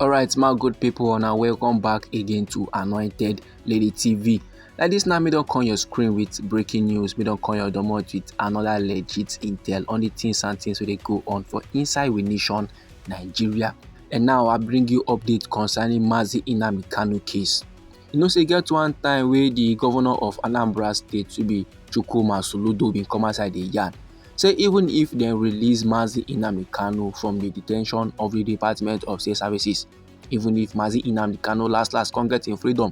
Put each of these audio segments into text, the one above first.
alright my good people una welcome back again to anointed lady tv like this now me don come your screen with breaking news me don come your domot with another legit intel on the things and things wey dey go on for inside we nation nigeria and now i bring you update concerning mazi inami kanu case You know say e get one time wey the governor of Anambra State to be Chukwuma Soludo bin come outside dey yarn say even if dem release Mazi Nnamdi Kanu from the detention of the Department of State Services, even if Mazi Nnamdi Kanu last last come get im freedom,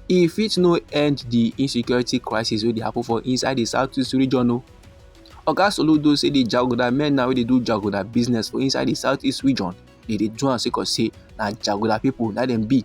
e fit no end the insecurity crisis wey dey happen for inside the southeast region o. Oga Soludo say the jaguda men na wey dey do jaguda business for inside the southeast region dey dey do am sake of say na jaguda people na dem be.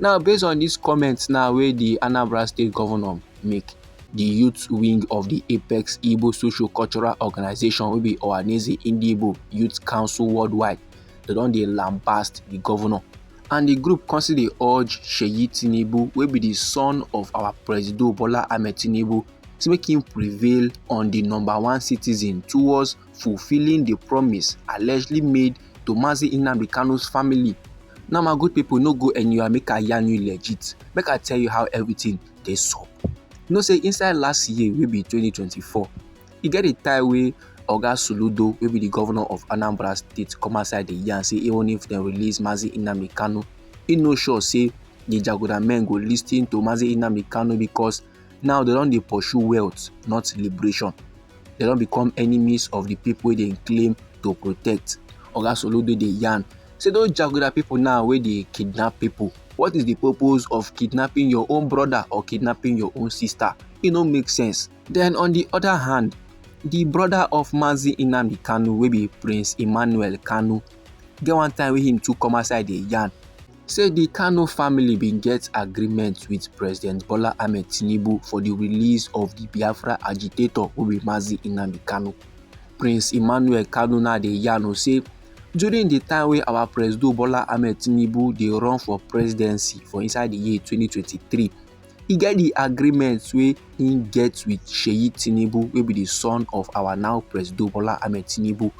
Now based on dis comments now wey di Anambra State Governor make, di youth wing of di Apex Igbo Social Cultural Organization wey be Ohaneze Ndigbo Youth Council Worldwide, dem don dey lambast di governor and di group come still dey urge Seyi Tinubu wey be di son of our Presido Bola Ahmed Tinubu say make im prevail on di number one citizen towards fulfilling the promise allegedly made to Mazi Nnamdi Kanu's family. Now my good people no go anywhere make I yarn you legit, make I tell you how everything dey sup. You know say inside last year wey be 2024, e get a time wey Oga Soludo wey be the governor of Anambra state come outside dey yarn say even if dem release Mazi Nnamdi Kanu, e no sure say the Jaguda men go listen to Mazi Nnamdi Kanu because now they don't they pursue wealth not liberation they don't become enemies of the people wey dey claim to protect oga soludo dey yarn say those jaguda people now where they kidnap people what is the purpose of kidnapping your own brother or kidnapping your own sister e no make sense then on the other hand the brother of mazi inamdi kanu wey be prince emmanuel kanu get one time wey him too come outside dey yarn say di kanu family bin get agreement wit president bola ahmed tinubu for di release of di biafra agitator wey be mazi nnamdi kanu prince emmanuel kanu now dey yarn o say during di time wey our president bola ahmed tinubu dey run for presidency for inside di year 2023 e get di agreement wey im get wit seyi tinubu wey be di son of our now presido bola ahmed tinubu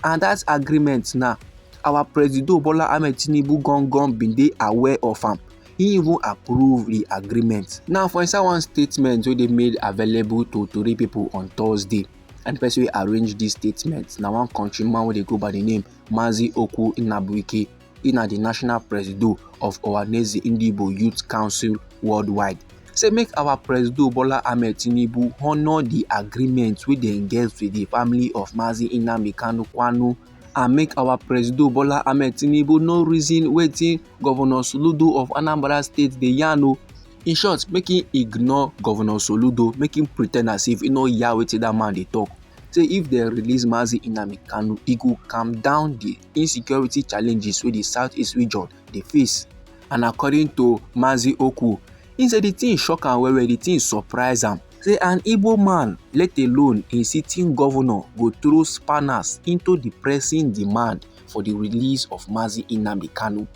and dat agreement now our presido bola ahmed tinubu gangan bin dey aware of am he even approve di agreement now for inside one statement wey dey made available to tori pipo on thursday and di person wey arrange dis statement na one countryman wey dey go by di name mazi okwu inabuike e na di national presido of ohaneze ndigbo youth council worldwide say make our presido bola ahmed tinubu honour di agreement wey dem get with di family of mazi nnamdi kanu kwanu and make our presido bola ahmed tinubu no reason wetin governor soludo of anambra state dey yarn o in short make him ignore governor soludo make him pretend as if he no hear wetin that man dey talk say if dem release mazi nnamdi kanu e go calm down the insecurity challenges wey di southeast region dey face and according to mazi oku he say di tin shock am well well di tin surprise am say an igbo man let alone a sitting governor go throw spanners into di pressing demand for di release of mazi nnamdi kanu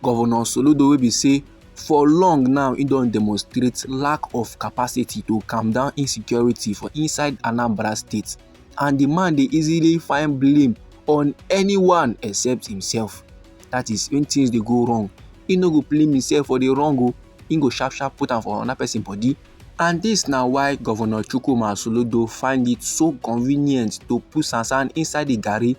governor soludo wey be say for long now he don demonstrate lack of capacity to calm down insecurity for inside anambra state and the man dey easily find blame on anyone except himself that is when things dey go wrong he no go blame himself for the wrong o oh. he go sharp sharp put am for another person body and this na why governor chukwuma soludo find it so convenient to put sansan inside the garri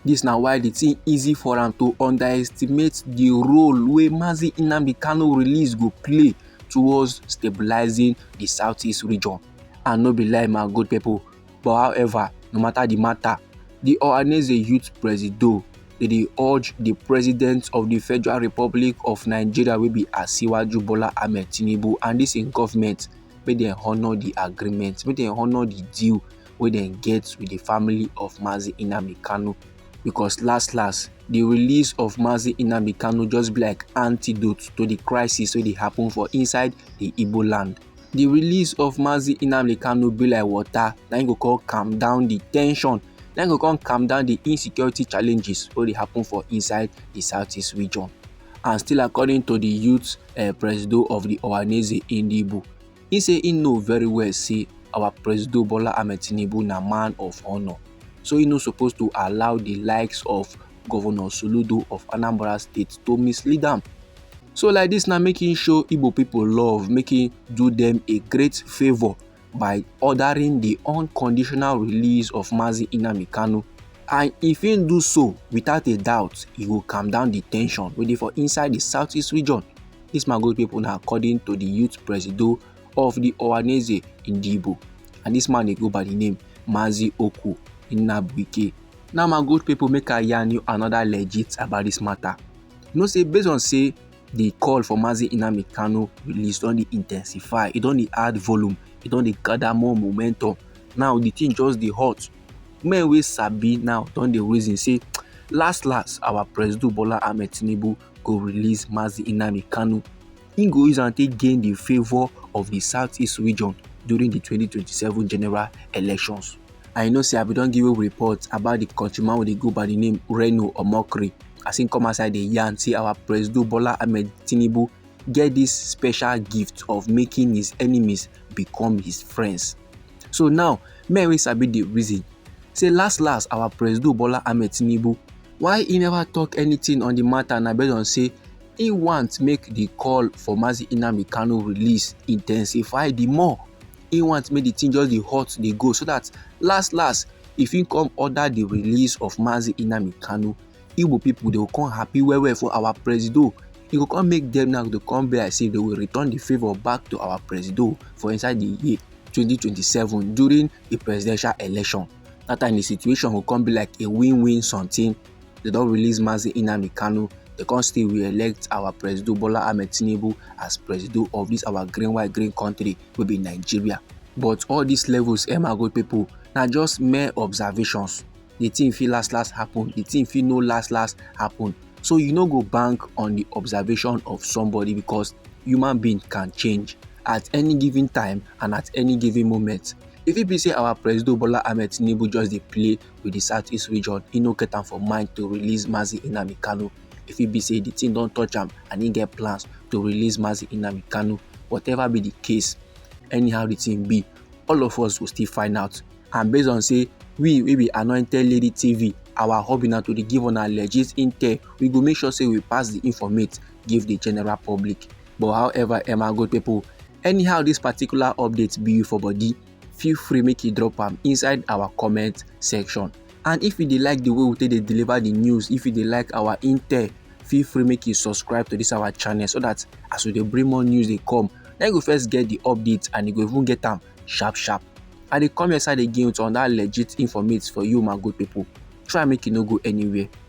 this na why the thing easy for am to underestimate the role wey mazi nnamdi kanu release go play towards stabilizing the southeast region. and no be lie my good people but however no matter the matter the ohaneze youth presido dey dey urge the president of the federal republic of nigeria wey be asiwaju bola ahmed tinubu and this im government make dem honour the agreement make dem honour the deal wey dem get with the family of mazi nnamdi kanu because last last the release of mazi nnamdi kanu just be like antidote to the crisis wey dey happen for inside the igbo land the release of Mazi Inamli Kanu be like water na im go come calm down the tension na im go come calm down the insecurity challenges wey dey happen for inside the southeast region and still according to the youth uh, eh, presido of the Ohaneze Indibu he say he know very well say our presido Bola Ahmed Tinubu na man of honour so he no suppose to allow the likes of governor soludo of anambra state to mislead am so like this na make him show igbo people love make him do them a great favour by ordering the unconditional release of mazi inami kanu and if he do so without a doubt he go calm down the tension wey dey for inside the southeast region This man good people now according to the youth presido of the Ohaneze Indibo. And this man they go by the name Mazi Oku Inabuike. Now my good people make I yarn you another legit about this matter. You know say based on say the call for Mazi Inami Kano release don dey intensify, e don dey add volume, e don dey gather more momentum. Now the thing just dey hot. Men wey sabi now don dey reason say last last our President Bola Ahmed Tinubu go release Mazi Inami Kano. He go use am take gain the favour of the southeast region during the 2027 general elections. and you know say i bin don give you report about the country man wey dey go by the name reno omokri as him come outside dey yarn say our presido bola ahmed tinubu get this special gift of making his enemies become his friends so now men wey sabi the reason say last last our presido bola ahmed tinubu why he never talk anything on the matter na based on say he want make the call for mazi nnamdi kanu release intensify the more he want make the thing just dey hot dey go so that last last if he come order the release of Mazi Inami Kanu Igbo people they will come happy well well for our presido he go come make them now to come be as if they will return the favour back to our presido for inside the year 2027 during the presidential election that time the situation go come be like a win-win something they don release Mazi Inami Kanu they come still re-elect our presido Bola Ahmed Tinubu as presido of this our green white green country wey be nigeria but all these levels emma go people na just mere observations the thing fit last last happen the thing fit no last last happen so you no go bank on the observation of somebody because human being can change at any given time and at any given moment e fit be say our president bola ahmed tinubu just dey play with the southeast region e no get am for mind to release mazi nnamdi kanu e fit be say the thing don touch am and he get plans to release Mazi Nnamdi Kanu whatever be the case anyhow the thing be all of us go still find out and based on say we we be anointed lady tv our hobby na to dey give una legit intel we go make sure say we pass the informate give the general public but however emma good people anyhow this particular update be you for body feel free make you drop am inside our comment section and if you dey like the way we take dey deliver the news if you dey like our intel feel free make you subscribe to this our channel so that as we dey bring more news dey come na you go first get the update and you go even get am sharp sharp i dey come your side again with another legit informate for you my good people try make you no go anywhere